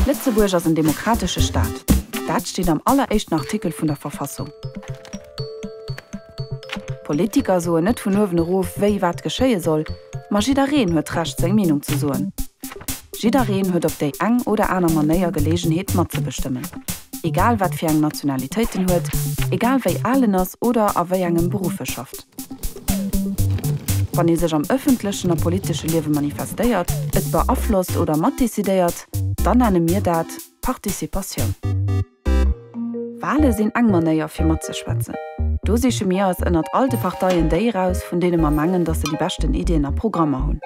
Lëtzebuerg ass en demokratesche Staat. Dat steet am alleréischten Artikel vun der Verfassung. D'Politiker soen net vun uewen erof, wéi wat geschéie soll, ma jiddereen huet d'Recht, seng Meenung ze soen. Jiddereen huet op déi eng oder aner Manéier Geleegenheet, matzebestëmmen. Egal wat fir eng Nationalitéit en huet, egal wéi al en ass oder a wéi engem Beruff e schafft. Wann ee sech am ëffentlechen a politesche Liewe manifestéiert, et beaflosst oder matdecidéiert, dann nenne mir dat Participatioun. Wale sinn eng Manéier fir matzeschwätzen. Do siche mir eis ënnert all de Parteien déi eraus, vun deene mer mengen, datt se déi beschten Iddien a Programmer hunn.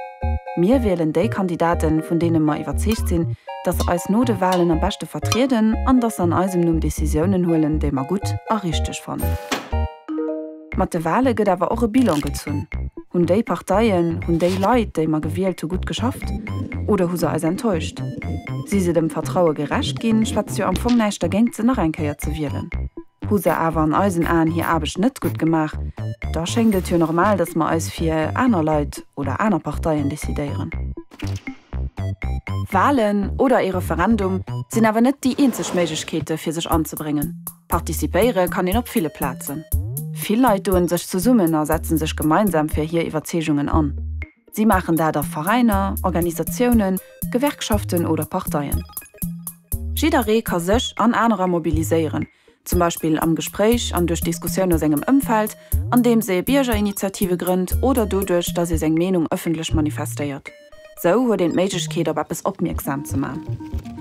Mir wielen déi Kandidaten, vun deene mer iwwerzeegt sinn, datt se eis no de Walen am beschte vertrieden an datt se an eisem Numm Decisiounen huelen, déi mer gutt a richteg fannen. Mat de Wale gëtt awer och e Bilan gezunn. Hunn déi Parteien, hunn déi Leit, déi mer gewielt hu gutt geschafft oder hu se eis enttäuscht? Si se dem Vertraue gerecht ginn? Schwätzt jo am Fong näischt dergéint se nach eng Kéier ze wielen. Hu se awer an eisen Aen hir Aarbecht net gutt gemaach, da schéngt et jo normal, datt mer eis fir aner Leit oder aner Parteien decidéieren. Walen oder ee Referendum sinn awer net déi eenzeg Méiglechkeete fir sech anzebréngen. Participéiere kann een op ville Plazen. Vill Leit doen sech zesummen a setzen sech gemeinsam fir hir Iwwerzeegungen an. Si maachen dat a Veräiner, Organisatiounen, Gewerkschaften oder Parteien. Jidderee ka sech an anerer mobiliséieren, zum Beispill am Gespréich an duerch Diskussioun a sengem Ëmfeld, andeems ee Biergerinitiative grënnt oder doduerch, datt ee seng Meenung ëffentlech manifestéiert. Sou huet een d'Méiglechkeet op eppes opmierksam ze man.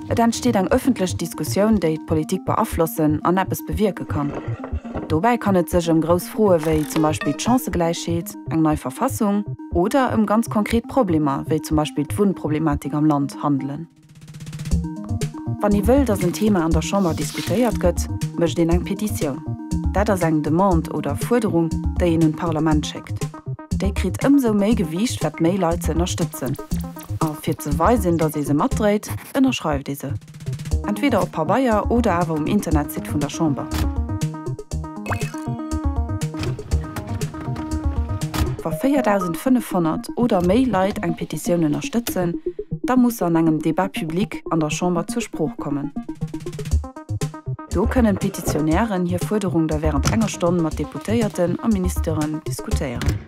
Et entsteet eng ëffentlech Diskussioun déi d'Politik beaflossen an eppes bewierke kann. Dobäi kann et sech ëm grouss Froe wéi zum Beispill d'Chancëgläichheet, eng nei Verfassung oder ëm ganz konkret Problemer wéi zum Beispill d'Wunnproblematik am Land handelen. Wann ee wëll, datt en Thema an der Chamber diskutéiert gëtt, mécht een eng Petitioun. Dat ass eng Demande oder Fuerderung, déi een un d'Parlament schéckt. Déi kritt ëmsou méi Gewiicht, wat méi Leit se ënnerstëtzen. A fir ze weisen, datt ee se matdréit, ënnerschreift ee se. Entweder op Pabeier oder awer um Internetsite vun der Chamber. Wa 4.500 oder méi Leit eng Petitioun ënnerstëtzen, da muss se an engem Débat public an der Chamber zur Sprooch kommen. Do kënnen d'Petitionären hir Fuerderung da wärend enger Stonn mat Deputéierten a Ministeren diskutéieren.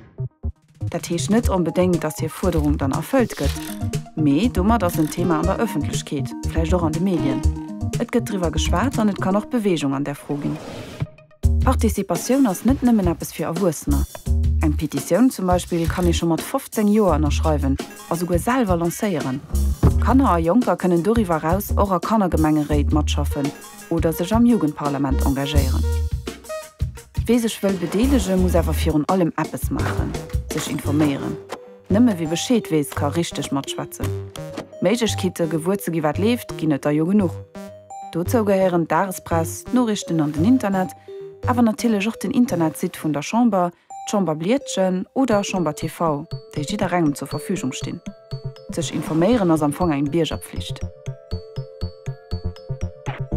Dat heescht net onbedéngt, dass hir Fuerderung dann erfëllt gëtt, mee domat ass en Thema an der Ëffentlechkeet, vläicht och an de Medien. Et gëtt driwwer geschwat an et kann och Beweegung an där Fro ginn. Participatioun ass net nëmmen eppes fir Erwuessener. Eng Petitioun zum Beispill kann ee scho mat 15 Joer ënnerschreiwen a souguer selwer lancéieren. Kanner a Jonker kënnen doriwwer eraus och a Kannergemengeréit matschaffen oder sech am Jugendparlament engagéieren. Wee sech wëll bedeelege muss awer virun allem eppes maachen, sech informéieren. Nëmme wie Bescheed weess ka richteg matschwätzen. Méiglechkeete gewuer ze gi wat leeft ginn et der jo genuch. Dozou gehéieren d'Dagespress, d'Noriichten an den Internet, awer natierlech och den Internetsite vun der Chamber, d'Chamberbliedchen oder Chamber TV, déi jidderengem zur Verfügung stinn. Sech informéieren ass am Fong eng Biergerpflicht.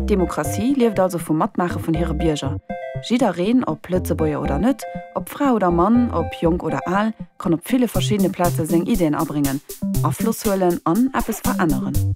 D'Demokratie lieft also vum Matmaache vun hire Bierger. Jiddereen, ob Lëtzebuerger oder net, ob Fra oder Mann, ob jonk oder al, kann op ville verschiddene Plaze seng Iddien abréngen, Afloss huelen an eppes veränneren.